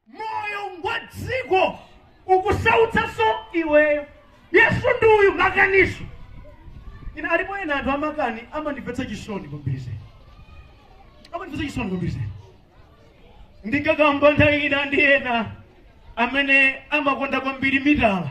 moyo ngwako dziko ukusautsanso iweyo yesu ndi uyu makaninso ine alipo ena anthu amakani amandimvetsa chisoni kwambiri zedi amandimvetsa chisoni kwambiri zedi ndikakamba nthawi ina ndi ena amene amakonda kwambiri mitala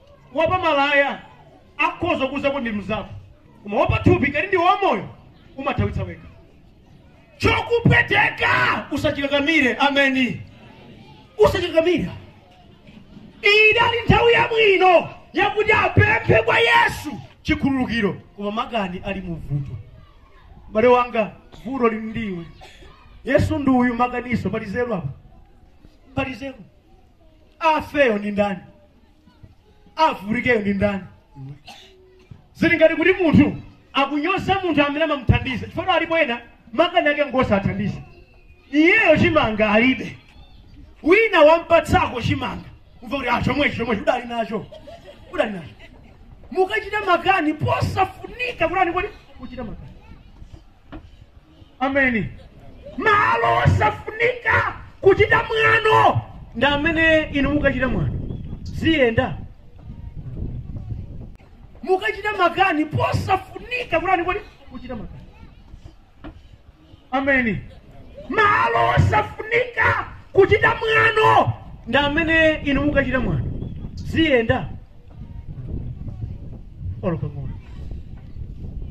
wapa malaya akhoza kuuza kuti ndi mnzako koma wapa thupi ngati ndiwe wamoyo umathimitsa wekha chokupweteka usachikakamire ameni usachikakamire idali nthawi yabwino yakuti apemphe kwa yesu chikhululukiro koma makani ali mu vuto bale wanga vuto lili ndi iwe yesu ndi uyu makaninso pali nzeru apa pali nzeru afeyo ndi ndani avulikeyo ndi ndani zili ngati kuti munthu akunyoza munthu amene amamuthandiza chifukwa alipo ena makani ake ngosathandiza iyeyo chimanga alibe wina wampatsako chimanga umva kuti ah chomwechi chomwechi udali nacho udali nacho mukachita makani posafunika kulani kodi kuchita makani ameni malo osafunika kuchita mwano ndi amene inu mukachita mwano ziyenda mukachita makani posafunika kulani kodi kuchita makani ameni malo osafunika kuchita mwano ndi amene inu mukachita mwano ziyenda olo pang'ono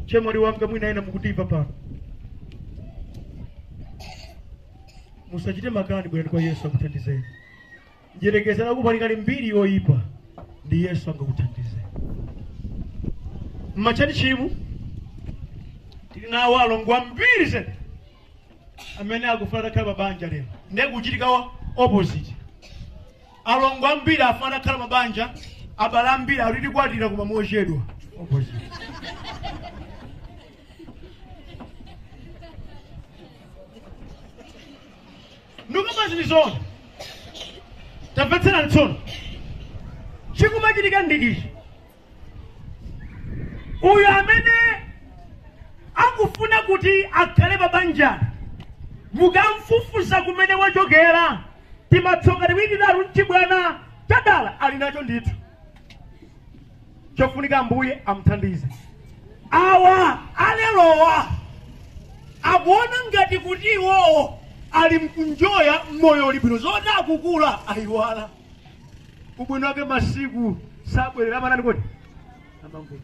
chemwali wanga mwina ena mukutimva pano musachite makani bwerani kwa yesu akuthandizeni ndiyerekeze kuti pali kale mbiri yoyipa ndi yesu angakuthandizeni mmatchalitchimu tili nawo alongo ambiri zedi amene akufuna atakhala pa banja lero ndiye zikuchitika opposite alongo ambiri afuna atakhala mabanja abale ambiri adzakwatira koma mochedwa ndikamba zili zoona tamvetserani tsono chikumachitika ndi ichi uyo amene akufuna kuti akhale pa banja mukamfufuza kumene wachokera timatsoka tiwiri titatu mchibwana chadala ali nacho ndithu chofunika ambuye amthandize awa alerowa akuona ngati kuti iwowo ali mkunjoya moyo uli bwino zoti akukula aiwala ubwino wake masiku sabwerera amatani kodi amangopita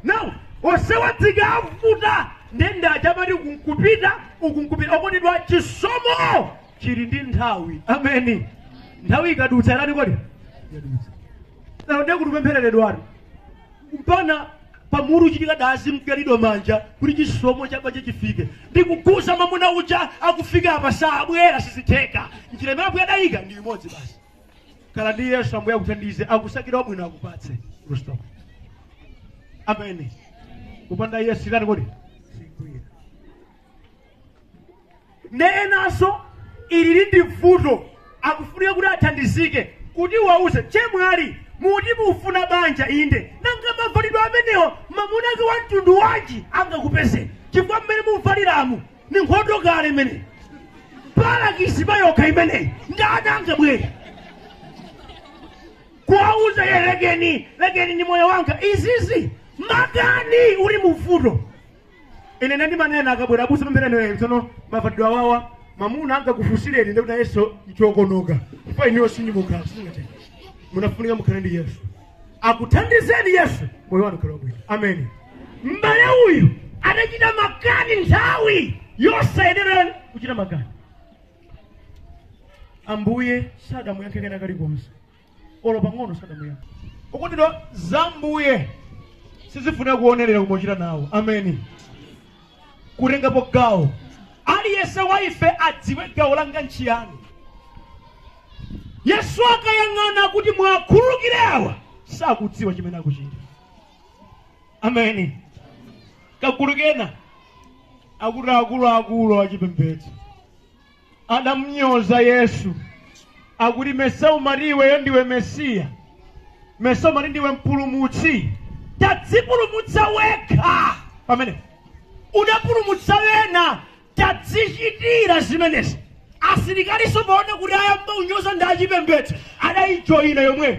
now onsewa tikavuta ndende achamati ukunkupita ukunkupita okondedwa chisomo chili ndi nthawi ameni nthawi ikadutsa yatani kodi yadutsa now ndiye kuti upemphereredwani mpaka pamutu chitika dazi nkuyalidwa manja kuti chisomo cha banja chifike ndikukuuza mamuna uja akufika apa sabwera sizitheka njira imene ambuye adayika ndi imodzi basi khala ndi yesu ambuye akuthandize akusakire wabwino akupatse Kristo. ameni kupanda yesu itani kodi sikugwira ne enanso ilili ndi vuto akufunika kuti athandizike kuti uwauze chemwali muti mufuna banja inde nanga mavalidwe amenewo mamuna ake wa mtundu wanji angakupeze chifukwa mmene muvaliramu ni nkhondo kale imeneyi palakisi payokha imeneyi ndani angabwere kuwauza ye lekeni lekeni ni moyo wanga izizi makani uli muvuto ine nde ndimanena akabwera abusa pempherani tsono mavalidwe awawa mamuna angakufunsireni ndekuti nayeso nchokonoka chifukwa inuyo sinyimukhala sizingatheke munafunika mukhale ndi yesu akuthandizeni yesu moyo wanu ukhale wabwino ameni m'bale uyu adachita makani nthawi yosayenera kuchita makani ambuye sadamuyankhe kena kalikonse olo pang'ono sadamuyankhe okondedwa za mbuye sizifuna kuonerera kumachita nawo ameni kutengapo gawo aliyense wa ife adziwe gawo langa nchiyani yesu akayang'ana kuti muwakhululukire awa sakudziwa chimene akuchita ameni kagulu kena akuti akuluakulu achipembedzo Adamunyoza Yesu akuti mesa umati iweyo ndiwe mesiya mesa umati ndiwe mpulumutsi tadzipulumutsa wekha pamene udapulumutsa wena tadzichitira zimenezi asilikaliso poona kuti ayamba unyoza ndi achipembedzo adayijoyina yomweyo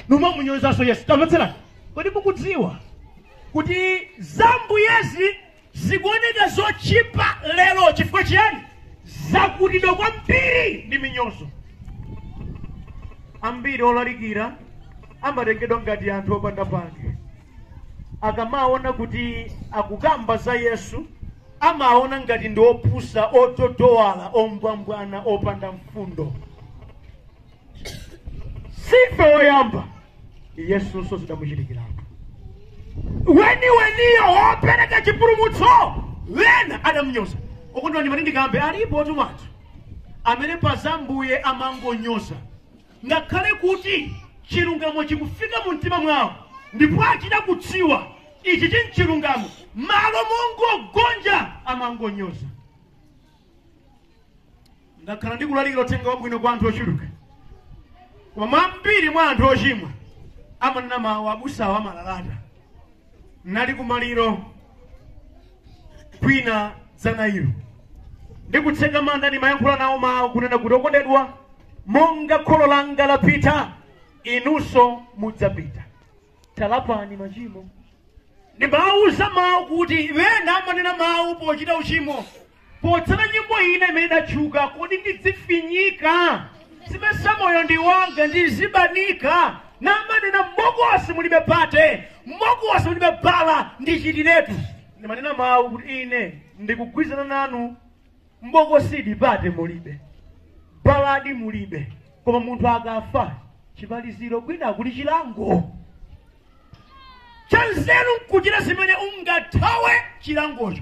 nkumamunyozanso yesu tamvetserani kodi mukudziwa kuti zambuyezi zikuoneka zotchipa lero chifukwa chiyani zakutidwa kwambiri ndi minyozo ambiri olalikira amatengedwa ngati anthu opanda pake akamaona kuti akukamba za yesu amaona ngati ndi opusa ototowala ombwambwana opanda mfundo sife oyamba yesunso zidamuchitikiratu weniweniyo wopereka chipulumutso wena adamnyoza okondedwa ndimati ndikambe alipotu anthu amene pa za Ambuye amangonyoza ngakhale kuti chilungamo chikufika mu mtima mwawo ndipo achita kudziwa ichi n'chilungamo malo mongogonja amangonyoza ndakhala ndikulalikira uthenga wabwino kwa anthu ochuluka koma ambiri mwa anthu ochimwa amanena mawu abusawo amalalata nali kumaliro kwina dzana ilo ndikutseka manda ndimayankhula nawo mawu kunena kuti okondedwa monga kholo langa lapita inunso mudzapita talapani machimo ndimawuza mawu kuti ena amanena mawu pochita uchimo Potsata nyimbo ina imene idatchuka, kodi ndidzifinyiranji, simesa moyo ndi wanga, ndizibanika, namanena m'bokosi mulibe pate, m'bokosi mulibe bala, ndichitiretu. Ndimanena mawu kuti ine ndikugwirizana nanu, m'bokosidi pate mulibe, baladi mulibe, koma munthu akafa chimaliziro kwina kuli chilango, chanzeru nkuchita zimene ungathawe chilangocho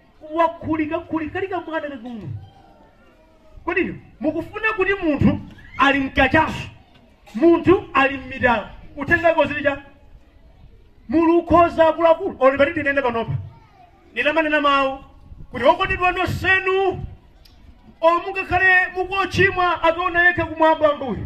wakhulika khulika kali ka mwana kakang'ono kodi inu mukufuna kuti munthu ali m'kachasu munthu ali m'mitala uthenga ko zili cha mulu ukhoza akuluakulu olo pati ndinene panopa ndinamanena mawu kuti okondedwa nonsenu mungakhale mukochimwa akaona yekha kumwamba Ambuye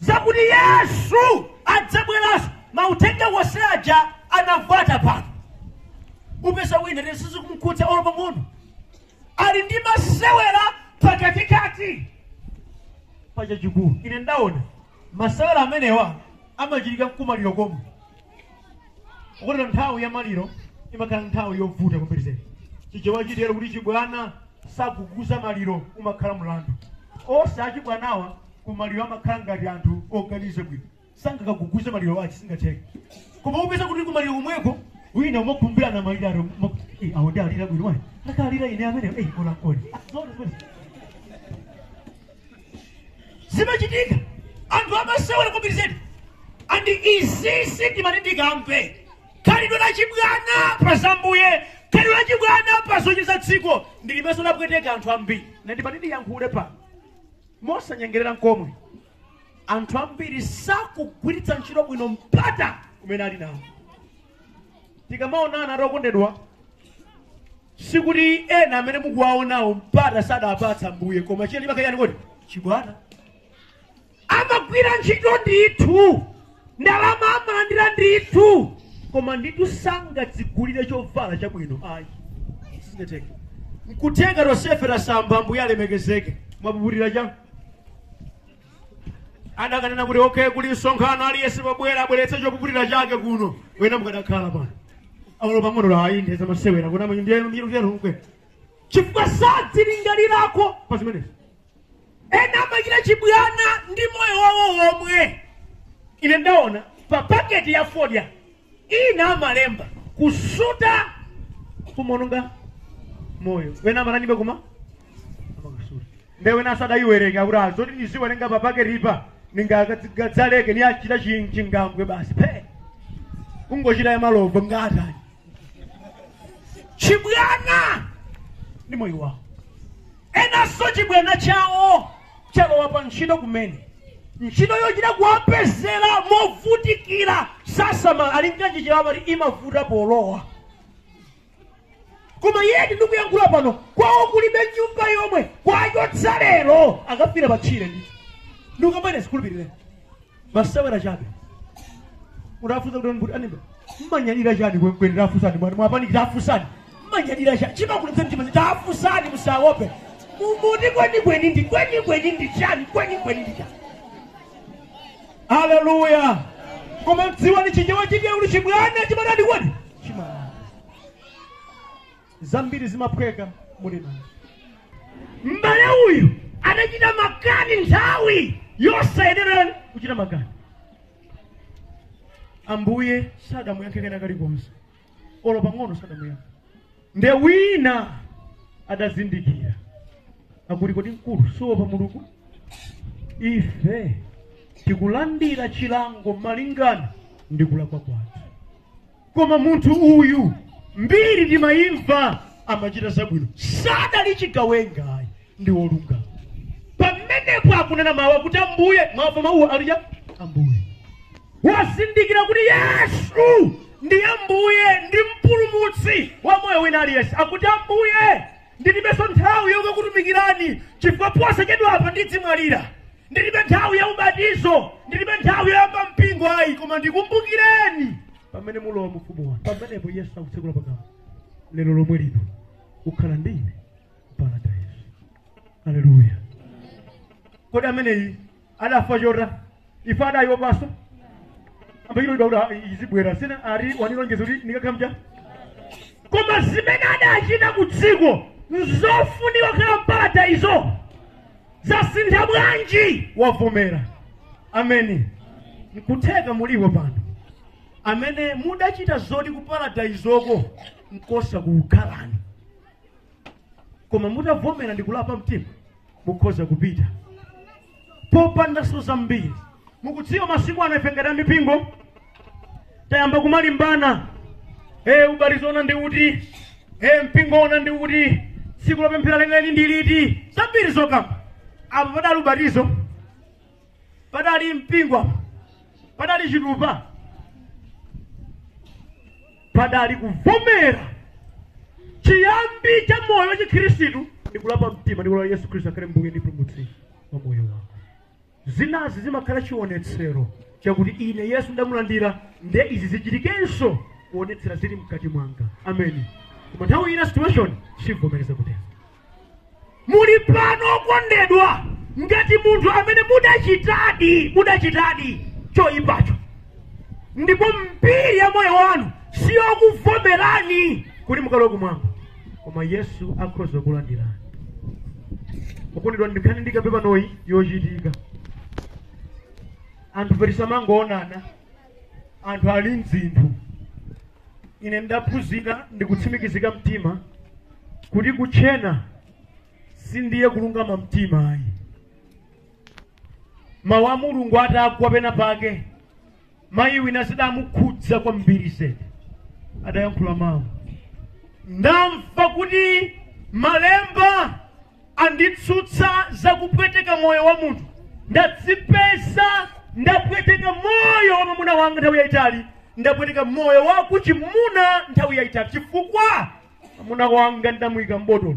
zakuti yesu adzabweranso mauthenga onse aja anavuta pano upeza wina lero sizikumkhudza olo pang'ono ali ndi masewera pakatikati pa chachikulu ine ndaona masewera amenewa amachitika mkumaliro komwe mukatere nthawi ya maliro imakhala nthawi yovuta kwambiri zedi chichewa chimatero kuti chibwana saguguza maliro umakhala mlandu onse achibwanawa ku maliro amakhala ngati anthu oganiza bwino sangakaguguze maliro achi singatheke koma upeza kuti ku maliro komweko ena amakhumbirana maliro ato awo ndiye alira bwino ayi akalira ine amene eyi kola kodi zimachitika anthu amasewera kwambiri zedi and izizi ndimati ndikambe khalidwe la chibwana pa za Ambuye khalidwe la chibwana pa zocheza dziko ndilimenso lapweteka anthu ambiri nde ndimati ndiyankhule pano mosanyengerera nkomwe anthu ambiri sakugwiritsa ntchito bwino mpata umene ali nawo tikamaonana okondedwa sikuti ena amene mukuwaonawo mpata sadawapatsa ambuye koma chiyani makani kodi chibwana amagwira ntchito ndithu ndalama amalandira ndithu koma ndithu sangadzigulire chovala chabwino ayi sizingatheke nkutenga chosefera samba ambuye alemekezeke mwapukutira chanu adakanena kuti okay kuli msonkhano aliyense pobwera abweretse chopukutira chake kuno wena mukadakhala pano aulo pang'ono la ayinde zamasewera kuti amanyi ndiye miro vyalomkwe chifukwa sadzilingalirako pa zimenezi ena amachita chibwana ndi moyo wawo womwe ine ndaona pa paketi ya fodya ina amalemba kusuta kumononga moyo wena amaonanibe koma amakasuta nde wena asadayiwerenga kuti azoti niziwerenga pa paketipa ningadzaleke niyachita chi- chingambwe basi phe kungochita ya malovo ngatani chibwana ndi moyo wawo enanso chibwana chawo chalowa pa ntchito kumene ntchito yochita kuwapezera movutikira sasamala ali nkanji chabe amati imavuta polowa koma yeti ndikuyankhula pano kwawo kulibe nyumba yomwe kwachotsa lero akafira patchire ndithu ndikukamene sukhulupirire masewera chabe mutafunsa kuti kuti anibe mmanyadira chani kwenikweni tafusani mwati mwapaniki tafusani mmanyadira chani chimakulitsa mtima zi tafusani musaope mumuti kwenikweni ndi kwenikweni ndi chani kwenikweni ndi chani haleluya koma mdziwani chichewa chija uli chibwana chimalanda kwaoni chimala zambiri zimaphweka muli nazo m'bale uyu anachita makani nthawi yosayenera kuchita makani ambuye sadamuyankhe kena kalikonse olo pang'ono sadamuyankhe nde wina adazindikira akuti kodi mkulu suopa mulungu ife tikulandira chilango malingana ndi kulakwa kwathu koma munthu uyu mbiri timayimva amachita zabwino sadali chigawenga ayi ndi wolungama pamenepo akunena mawu akuti ambuye mwamva mawuwo alija ambuye wazindikira kuti yesu ndi ambuye ndi mpulumutsi wa moyo wina aliyense akuti ambuye ndilibenso nthawi yokakutumikirani chifukwa posachedwapa ndidzimwalira ndilibe nthawi ya ubatizo ndilibe nthawi yoyamba mpingo ayi koma ndikumbukireni pamene mulowa mu ufumu wanu pamenepo yesu akutsekula pakamwa lero lomwe lino ukhala ndi ine paradaiso aleluya kodi ameneyi adachita zotani ife adayipanso ambachito dauda izibwera sina ari wanilonjeza kuti ndikakhamja koma zimene adachita ku dziko nzofunika kukhala m'paradaiso zasintha bwanji wavomera ameni nkutheka mulipo pano amene mudachita zoti ku paradayizoko nkosakukhalani koma mutavomera ndi kulapa mtima mukhoza kupita popanda zina zambiri mukudziwa masiku ano ife ngati amipingo tayamba kumalimbana e ubatizo woona ndi uti e mpingo woona ndi uti tsiku lopemphera lenileni ndi liti zambiri zokamba apa padali ubatizo padali mpingo apo padali chitupa padali kuvomera chiyambi cha moyo wa chikhristu ndi kulapa mtima ndi kulapa yesu khristu akhale mbuye ndi mpulumutsi wa moyo wako zinazi zimakhala chionetsero chakuti ine yesu ndamulandira nde izi zichitikenso kuonetsera zili mkati mwanga ameni koma nthawi ina situation siivomereza kutero muli pano okondedwa ngati munthu amene mudachitadi mudachitadi choyipacho ndipo mbiri ya moyo wanu siyokuvomerani kuti mukalowe kumwamba koma yesu akhoza kukulandirani okondedwa ndi nkhani ndikambe panoyi yochitika anthu bwenzi tisamangoonana anthu ali m'zinthu ine ndaphunzira ndikutsimikizika mtima kuti kutchena si ndiye kulungama mtima ayi mawu a mulungu atagwa pena pake mayi wina zidamukhudza kwambiri zedi adayankhula mawu ndamva kuti malemba anditsutsa za kupweteka moyo wa munthu ndadzipeza ndapweteka moyo wa mwamuna wanga nthawi yayitali ndapweteka moyo wa kuchimuna nthawi yayitali chifukwa mwamuna wanga ndamuyika m'botolo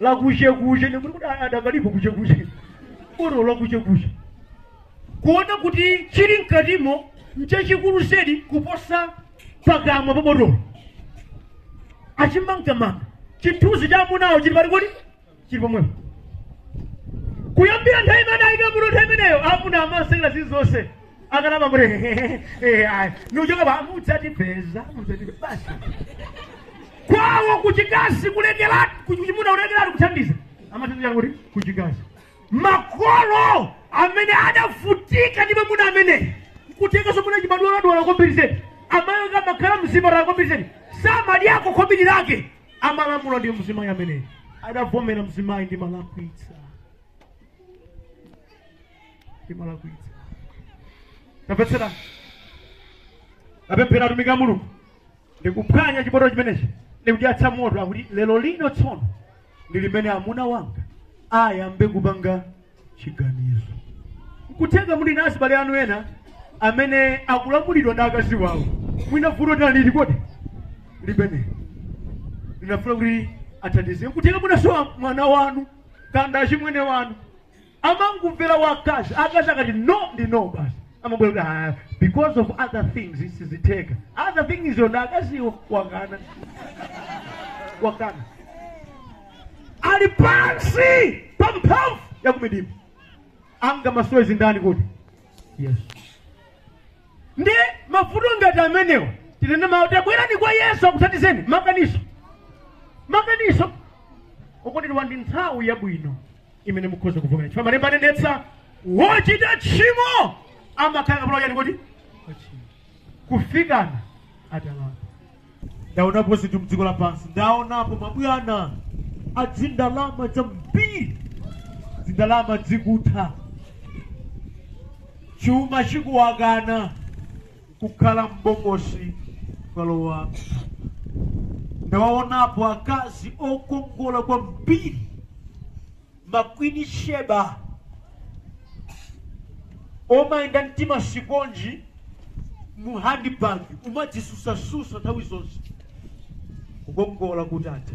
la kuchekuche ndikuti kuti adakalipo kuchekuche botolo la kuchekuche kuona kuti chili mkatimo nchachikulu zedi kuposa pakamwa pa botolo achimangamanga chithunzi cha amunawo chili pati kodi chili pomwepo kuyambira nthawi imene anayika muno nthawi imeneyo amuna amasekera zinthu zonse akalama kuti nuchoka pa mudzatipeza mudzatipeza basi kwawo kuchikazi kulekeratu kuchimuna kulekeratu kuthandiza amathandiza kuti kuchikazi makolo amene adavutika ndi mwamuna ameneyi kutenga chimuna chimadwaladwala kwambiri zedi amayo kamakhala mzipatala kwambiri zedi samadyako khobiri lake amalamula ndi mzimayi amene adavomera mzimayi timalakwitsa timalakwitsa tapezerani apemphera atumiki a mulungu ndikuphwanya chibotolo chimenechi ndikuyatsa moto kuti lero lino tsono ndi limene amuna wanga ayambe kupanga chiganizo nkutheka muli na azibale anu ena amene akulamulidwa ndi akazi wawo mwina vuto tinalili kodi limene linafuna kuti athandize nkutheka munasowa mwana wanu kapena achimwene wanu amangomvera akazi akazi akati no ndi no basi amabwera kuti "Ah, because of other things sizitheka other things zo ndi akaziwo wakana wakana ali pansi pa mphamvu ya kumidima angamasule ndindani kodi yesu ndi mavuto ngati amenewa tinene mawu tabwerani kwa yesu akuthandizeni maganizo maganizo okuti tili ndi nthawi yabwino imene mukhoza kuvomera chifukwa malemba anenetsa wochita tchimo amakhala kapolo wa chani kodi wa tchimo kufikana atalapa ndaonapo zinthu mdziko lapansi ndaonapo mabwana adzindalama dzambiri dzindalama dzikutha chuma chikuwakana kukhala m'bokosi kukalowa m'thumba. Ndawaonapo akazi okongola kwambiri, ma Queen Sheba, omayenda ndi timasiponji mu handbag, omadzisusasusa nthawi zonse. Kukongola kutatha,